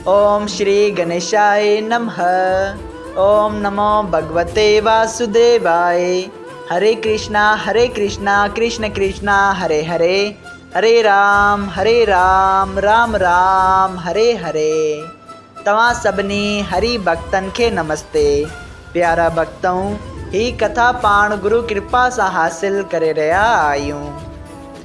اوم شري گنيشائي نمه اوم نمو ڀڳوتي واسوديوائي هري ڪرشنا هري ڪرشنا ڪرشنا ڪرشنا هري هري هري رام هري رام رام رام هري هري توهان سڀني هري ڀڳتن کي نمستي پيارا ڀڳتؤ هي ڪٿا پاڻ گرو ڪرپا سان حاصل ڪري رهيا آهيون.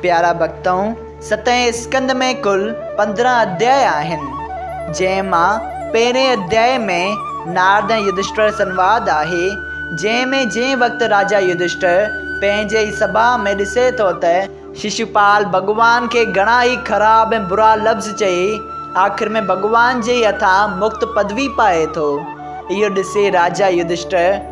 پيارا ڀڳتؤں! ستين اسڪند ۾ ڪل پندرهن اڌيا آهن، جنهن مان پهرئين اڌيا ۾ نارد ۽ يڌشٽر سنواد آهي، جنهن ۾ جنهن وقت راجا يڌشٽر پنهنجي ئي سڀا ۾ ڏسي ٿو ته ششوپال ڀڳوان کي گهڻا ئي خراب ۽ برا لفظ چئي آخر ۾ ڀڳوان جي ئي هٿان مڪت پدوي پائي ٿو، اهو ڏسي راجا يڌشٽر.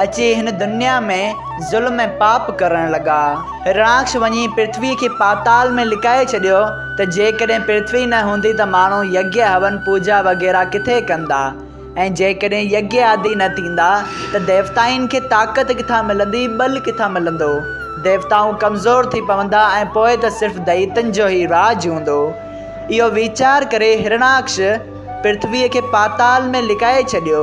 اچي هن دنيا ۾ ظلم ۽ پاپ ڪرڻ لڳا. هرڻاڪش وڃي پرٿويء کي پاتال ۾ لڪائي ڇڏيو ته جيڪڏهن پرٿوي نه هوندي ته ماڻهو يگيا هون پوجا وغيره ڪٿي ڪندا ۽ جيڪڏهن يگيادي نه ٿيندا ته ديوتائن کي طاقت ڪٿان ملندي ٻل ڪٿان ملندو ديوتائون ڪمزور ٿي پوندا ۽ پوء ته صرف دئيتن جو ئي راڄ هوندو اهو ويچار ڪري هرڻاڪش پرٿويء کي پاتال ۾ لڪائي ڇڏيو،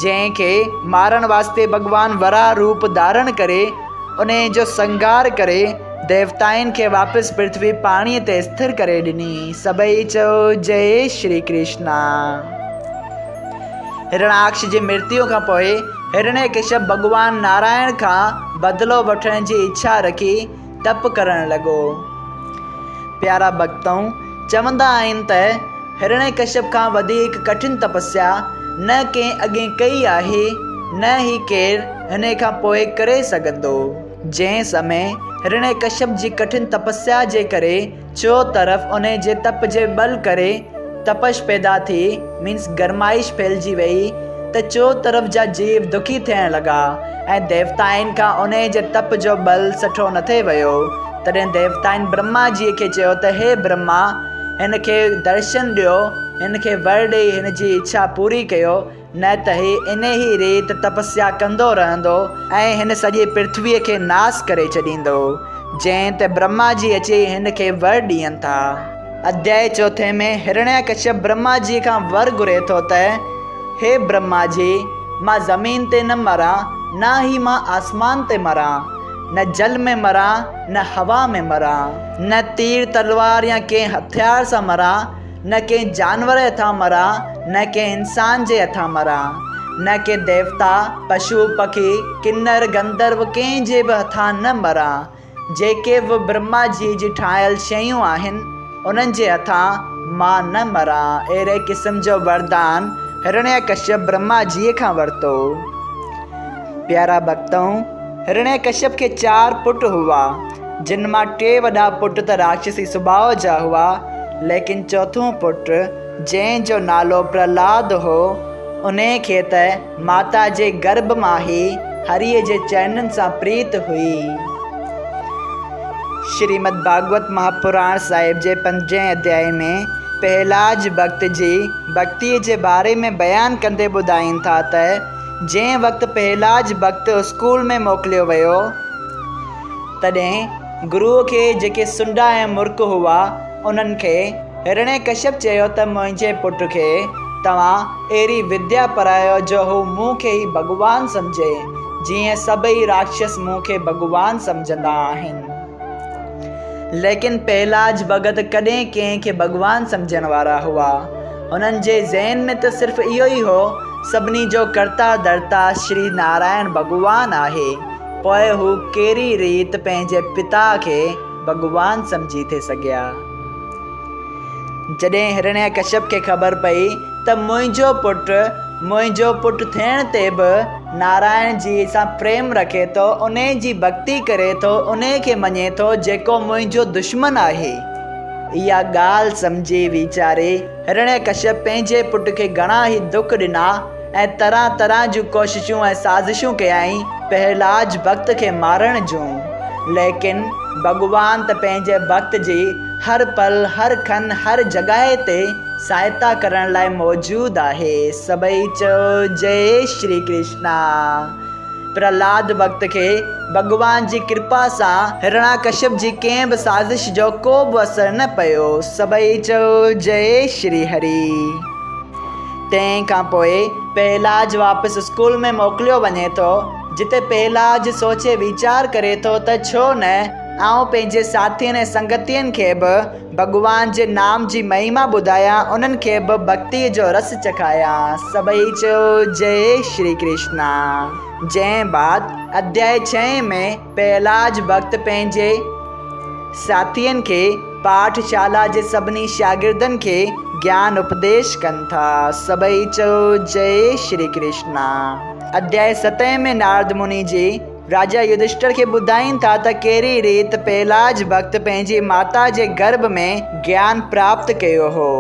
جنهن کي مارڻ واسطي ڀڳوان وراهه روپ ڌارڻ ڪري، انهيء جو سنگهار ڪري، ديوتائن کي واپس پرٿوي پاڻيء تي اسٿر ڪري ڏني. سڀئي چئو، جئه شري ڪرشنا. هرڻاڪش جي مرتيو کان پوء هرڻيڪشپ ڀڳوان نارائڻ کان بدلو وٺڻ جي اڇا رکي، ڊپ ڪرڻ لڳو. پيارا ڀڳتؤن چوندا آهن ته هرڻيڪشپ کان وڌيڪ ڪٺن تپسيا نه ڪنهن اڳين ڪئي آهي نه ئي ڪير هنئين کان پوء ڪري سگهندو. جنهن سمي هرڻيڪشپ جي ڪٺن تپسيا جي ڪري چو طرف انهيء جي تپ جي ٻل ڪري تپش پيدا ٿي Means گرمائش ڦهلجي ويئي ته چو طرف جا جيو دکي ٿيڻ لڳا ۽ ديوتائن کان انهيء جي تپ جو ٻل سٺو نه ٿي ويو تڏهن ديوتائن برهما جيء کي چيو ته هي برهما هن کي درشن ڏيو هن کي ور ڏيئي هن جي اڇا پوري ڪيو نه ته هي انهي ريت تپسيا ڪندو رهندو ۽ هن سڄي پرٿويء کي ناس ڪري ڇڏيندو، جنهن تي برهما جي اچي هن کي ور ڏين ٿا. اڌيائي چوٿين ۾ هرڻيا ڪشيپ برهما جي کان ور گهري ٿو ته، هي برهما جي! مان زمين تي نه مران، نه ئي مان آسمان تي مران. نه جل ۾ مران، نه هوا ۾ مران. نه تير تلوار يا ڪنهن هٿيار سان مران. نه ڪنهن جانور جي هٿان مران، نه ڪنهن انسان جي هٿان مران، نه ڪي ديوتا، پشو، پکي، ڪنر، گنڌرو ڪنهن جي به هٿان نه مران، جيڪي به برهما جي جي ٺاهيل شيون آهن، انهن جي هٿان مان نه مران. اهڙي قسم جو وردان هرڻيه ڪشيپ برهما جيء کان ورتو. پيارا ڀڳتؤ! هرڻيه ڪشيپ کي چار پٽ هئا. جن مان ٽي وڏا پٽ ته راڪشسي سڀاء جا هئا، ليڪن چوٿون پٽ، جنهن جو نالو پرهلاد هو، انهيء کي ته ماتا جي گرڀ مان ئي هريء جي چرنن سان پريت هئي. شريمد ڀاڳوت مهاپراڻ صاحب جي پنجين اڌيائي ۾ پهلاج ڀڳت جي ڀڳتيء جي باري ۾ بيان ڪندي ٻڌائين ٿا ته، جنهن وقت پهلاج ڀڳت اسڪول ۾ موڪليو ويو، تڏهن گروء کي جيڪي سنڊا ۽ مرڪ هئا، انهن کي هرڻيڪشپ چيو ته منهنجي پٽ کي توهان اهڙي وديا پرايو جو هو مون کي ئي ڀڳوان سمجهي، جيئن سڀئي راڪشس مون کي ڀڳوان سمجهندا آهن. ليڪن پهلاج ڀڳت ڪڏهن ڪنهن کي ڀڳوان سمجهڻ وارا هئا. هنن جي ذهن ۾ ته صرف اهو ئي هو، سڀني جو ڪرتا ڌرتا شري نارائڻ ڀڳوان آهي. پوء هو ڪهڙي ريت پنهنجي پتا کي ڀڳوان سمجهي ٿي سگهيا؟ جڏهن هرڻيه ڪشيپ کي خبر پئي ته منهنجو پٽ منهنجو پٽ ٿيڻ تي به نارائڻ جيء سان پريم رکي ٿو، انهي جي ڀڳتي ڪري ٿو، انهي کي مڃي ٿو جيڪو منهنجو دشمن آهي. اها ڳالهه سمجهي ويچاري هرڻيه ڪشيپ پنهنجي پٽ کي گهڻا ئي دک ڏنا. ۽ طرح طرح جون ڪوششون ۽ سازشون ڪيائين پهرلاج ڀڳت کي مارڻ جون، ليڪن ڀڳوان ته پنهنجي ڀڳت جي هر پل، هر کن، هر جڳهه تي سهائتا ڪرڻ لاء موجود آهي. سڀئي چئو جئي شري ڪرشنا. پرهلاد ڀڳت کي ڀڳوان جي ڪرپا سان هرڻاڪشپ جي ڪنهن به سازش جو ڪو به اثر نه پيو. سڀئي چئو جئي شري هري. تنهن کان پوء پهلاج واپس اسڪول ۾ موڪليو وڃي ٿو، جتي پهلاج سوچي ويچار ڪري ٿو ته ڇو نه آئون پنهنجي ساٿين ۽ سنگتين کي به ڀڳوان جي نام جي مهيما ٻڌايان انهن کي به ڀڳتي جو رس چکايان. سڀئي چيو جئي شري ڪرشنا. جنهن بعد اڌيائي ڇهين ۾. پهلاج ڀڳت پنهنجي ساٿين کي پاٺ شالا جي سڀني شاگردن کي گيان اپديش ڪن ٿا. سڀئي چئو جئي شري ڪرشنا. اڌياء ستين ۾ نارد مني جي راجا يڌشٽر کي ٻڌائين ٿا ته ڪهڙي ريت پهلاج ڀڳت پنهنجي ماتا جي گرڀ ۾ گيان پراپت ڪيو هو.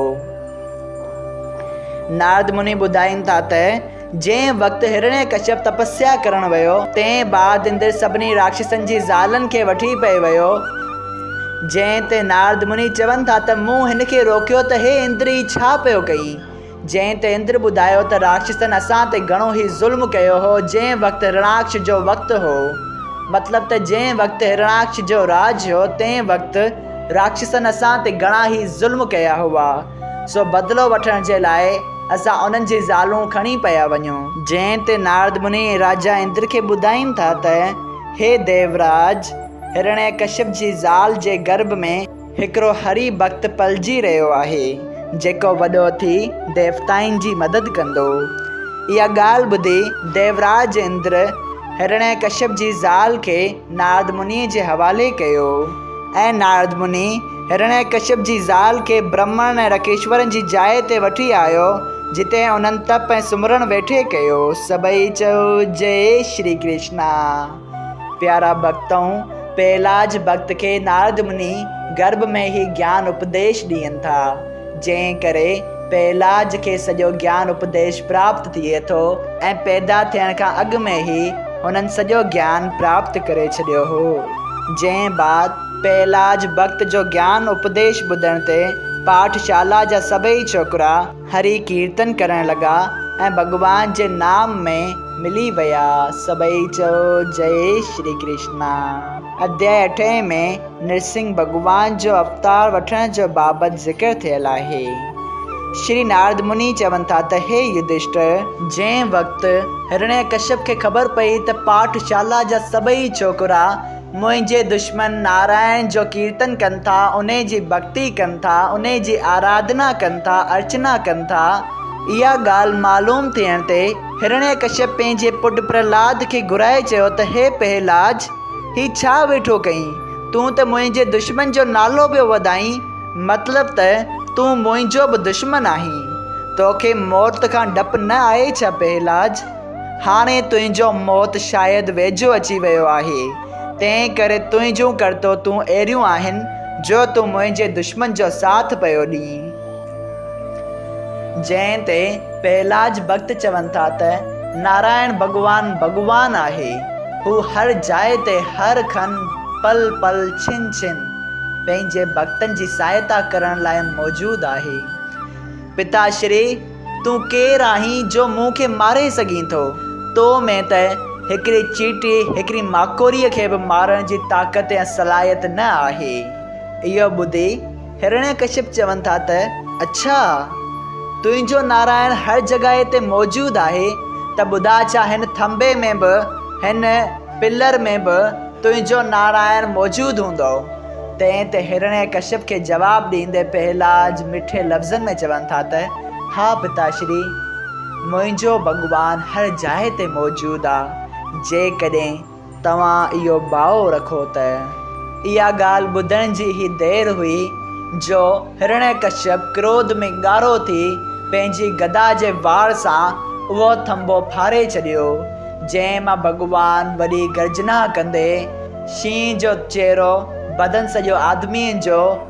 نارد مني ٻڌائين ٿا ته. جنهن وقت هرڻيه ڪشيپ تپسيا ڪرڻ ويو، تنهن بعد اندر سڀني راڪشسن جي زالن کي وٺي پئي ويو، جنهن تي نارد مني چون ٿا ته مون هن کي روڪيو ته هي اندر هي ڇا پيو ڪئي؟ جنهن تي اندر ٻڌايو ته راڪشسن اسان تي گهڻو هي ظلم ڪيو هو، جنهن وقت هرڻاڪش جو وقت هو، مطلب ته جنهن وقت هرڻاڪش جو راڄ هو، تنهن وقت راڪشسن اسان تي گهڻا هي ظلم ڪيا هئا. سو بدلو وٺڻ جي لاء اسان انهن جي زالون کڻي پيا وڃون. جنهن تي نارد مني راجا اندر کي ٻڌائين ٿا ته، هي ديوراج! هرڻيه ڪشيپ جي زال جي گرڀ ۾ هڪڙو هري ڀڳت پلجي رهيو آهي، جيڪو وڏو ٿي ديوتائن جي مدد ڪندو. اها ڳالهه ٻڌي ديوراج اندر هرڻيه ڪشيپ جي زال کي نارد مني جي حوالي ڪيو. ۽ نارد مني هرڻيڪشپ جي زال کي برهمڻ ۽ رڪيشورن جي جاء تي وٺي آيو، جتي انهن تپ ۽ سمرڻ ويٺي ڪيو. سڀئي چيو، جئي شري ڪرشنا! پيارا ڀڳتؤ! پهلاج ڀڳت کي نارد مني گرڀ ۾ هي گيان اپديش ڏين ٿا. جنهن ڪري پهلاج کي سڄو گيان اپديش پراپت ٿئي ٿو ۽ پيدا ٿيڻ کان اڳ ۾ ئي هنن سڄو گيان پراپت ڪري ڇڏيو هو. جنهن بعد پهلاج ڀڳت جو گيان اپديش ٻڌڻ تي پاٺ شالا جا سڀئي ڇوڪرا هري ڪيرتن ڪرڻ لڳا ۽ ڀڳوان جي نام ۾ ملي ويا. سڀئي چئو جئي شري ڪرشنا. اڌيائي اٺين ۾ نرسنگهه ڀڳوان جو اوتار وٺڻ جو بابت ذڪر ٿيل آهي. شري نارد مني چون ٿا ته هي يڌشٽر! جنهن وقت هرڻيڪشپ کي خبر پئي ته پاٺ شالا جا سڀئي ڇوڪرا منهنجي دشمن نارائڻ جو ڪيرتن ڪن ٿا، انهي جي ڀڳتي ڪن ٿا، انهي جي آراڌنا ڪن ٿا، ارچنا ڪن ٿا، اها ڳالهه معلوم ٿيڻ تي هرڻيڪشپ پنهنجي پٽ پرهلاد کي گهرائي چيو ته هي پهلاج! هي ڇا ويٺو ڪئين؟ تون ته منهنجي دشمن جو نالو پيو وڌائين، مطلب ته تون منهنجو به دشمن آهين. توکي موت کان ڊپ نه آهي ڇا پهلاج؟ هاڻي تنهنجو موت شايد ويجهو اچي ويو آهي، تنهن ڪري تنهنجون ڪرتوتون اهڙيون آهن جو تون منهنجي دشمن جو ساٿ پيو ڏئين. جنهن تي پهلاج ڀڳت چون ٿا ته، نارائڻ ڀڳوان ڀڳوان آهي، هو هر جاء تي هر کن، پل پل، ڇن ڇن، پنهنجي ڀڳتن جي سهائتا ڪرڻ لاء موجود آهي. پتا شري، تون ڪير آهين جو مون کي ماري سگهين ٿو؟ تو ۾ ته هڪڙي چيٽي، هڪڙي ماڪوريء کي به مارڻ جي طاقت ۽ صلاحيت نه آهي. اهو ٻڌي. هرڻياڪشپ چون ٿا ته، اڇا! تنهنجو نارائڻ هر جڳهه تي موجود آهي ته ٻڌاء ڇا هن ٿنڀي ۾ به، هن پلر ۾ به تنهنجو نارائڻ موجود هوندو؟ تنهن تي هرڻياڪشپ کي جواب ڏيندي پهلاج مٺي لفظن ۾ چون ٿا ته، ها پتاشري! منهنجو ڀڳوان هر جاء تي موجود آ، جيڪڏهن توهان اهو باء رکو ته اها ڳالهه ٻڌڻ جي هي دير هئي جو هرڻيڪشيپ ڪروڌ ۾ ڳارو ٿي پنهنجي گدا جي وار سان اهو ٿنڀو ڦاڙي ڇڏيو، جنهن مان ڀڳوان وڏي گرجنا ڪندي شينهن جو چهرو بدن سڄو آدميء جو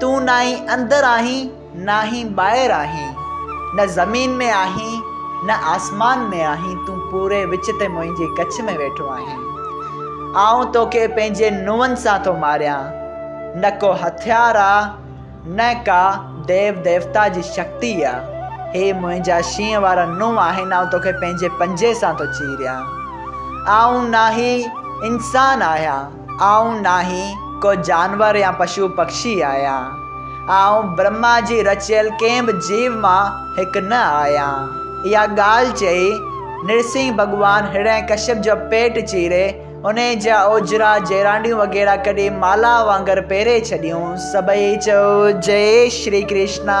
تون ناهين اندر آهين ناهين ٻاهر آهين نه زمين ۾ آهين نه آسمان ۾ آهين تون پوري وچ تي منهنجي ڪڇ ۾ ويٺو آهين آئون توکي پنهنجي نونهن سان ٿو ماريان نه ڪو هٿيار آ نه ڪا ديو ديوتا جي شڪتي آ هي منهنجا شينهن وارا نونهن آهن آئون توکي پنهنجي پنجي سان ٿو چيريان آئون ناهي انسان آهيان آئون ناهي ڪو جانور يا پشو پکشي آهيان. آئون برهما جي رچيل ڪنهن به جيو مان هڪ نه آهيان. اها ڳالهه چئي نرسنگهه ڀڳوان هرڻي ڪشيپ جو پيٽ چيري انهي جا اوجرا، جيرانڊيون وغيره ڪڍي مالها وانگر پيري ڇڏيون. سڀئي چئو جئي شري ڪرشنا.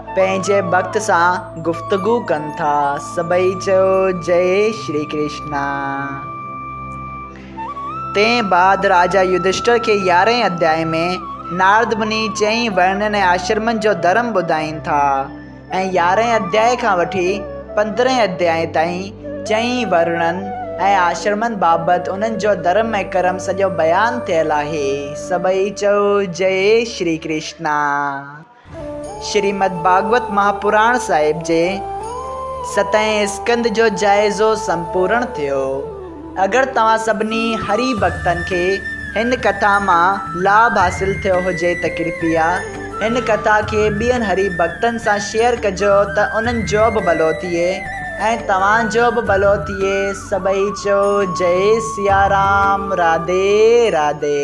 پنهنجي ڀڪت سان گفتگو ڪن ٿا سڀئي چيو جئي شري ڪرشنا تنهن بعد راجا يوڌشٽر کي يارهين اڌيائي ۾ نارد مني چئين ورنن ۽ آشرمن جو ڌرم ٻڌائين ٿا ۽ يارهين اڌيائي کان وٺي پندرهين اڌيائي تائين چئين ورنن ۽ آشرمن بابت انهن جو ڌرم ۽ ڪرم سڄو بيان ٿيل آهي سڀئي چئو جئي شري ڪرشنا. شريمد ڀاڳوت مهاپراڻ صاحب جي ستئين اسڪنڌ جو جائزو سمپورڻ ٿيو. اگر توهان سڀني هري ڀڳتن کي هن ڪٿا مان لاڀ حاصل ٿيو هجي ته ڪرپيا هن ڪٿا کي ٻين هري ڀڳتن سان شيئر ڪجو ته انهن جو به ڀلو ٿئي ۽ توهان جو به ڀلو ٿئي سڀئي چئو جئي سيارام راڌي راڌي.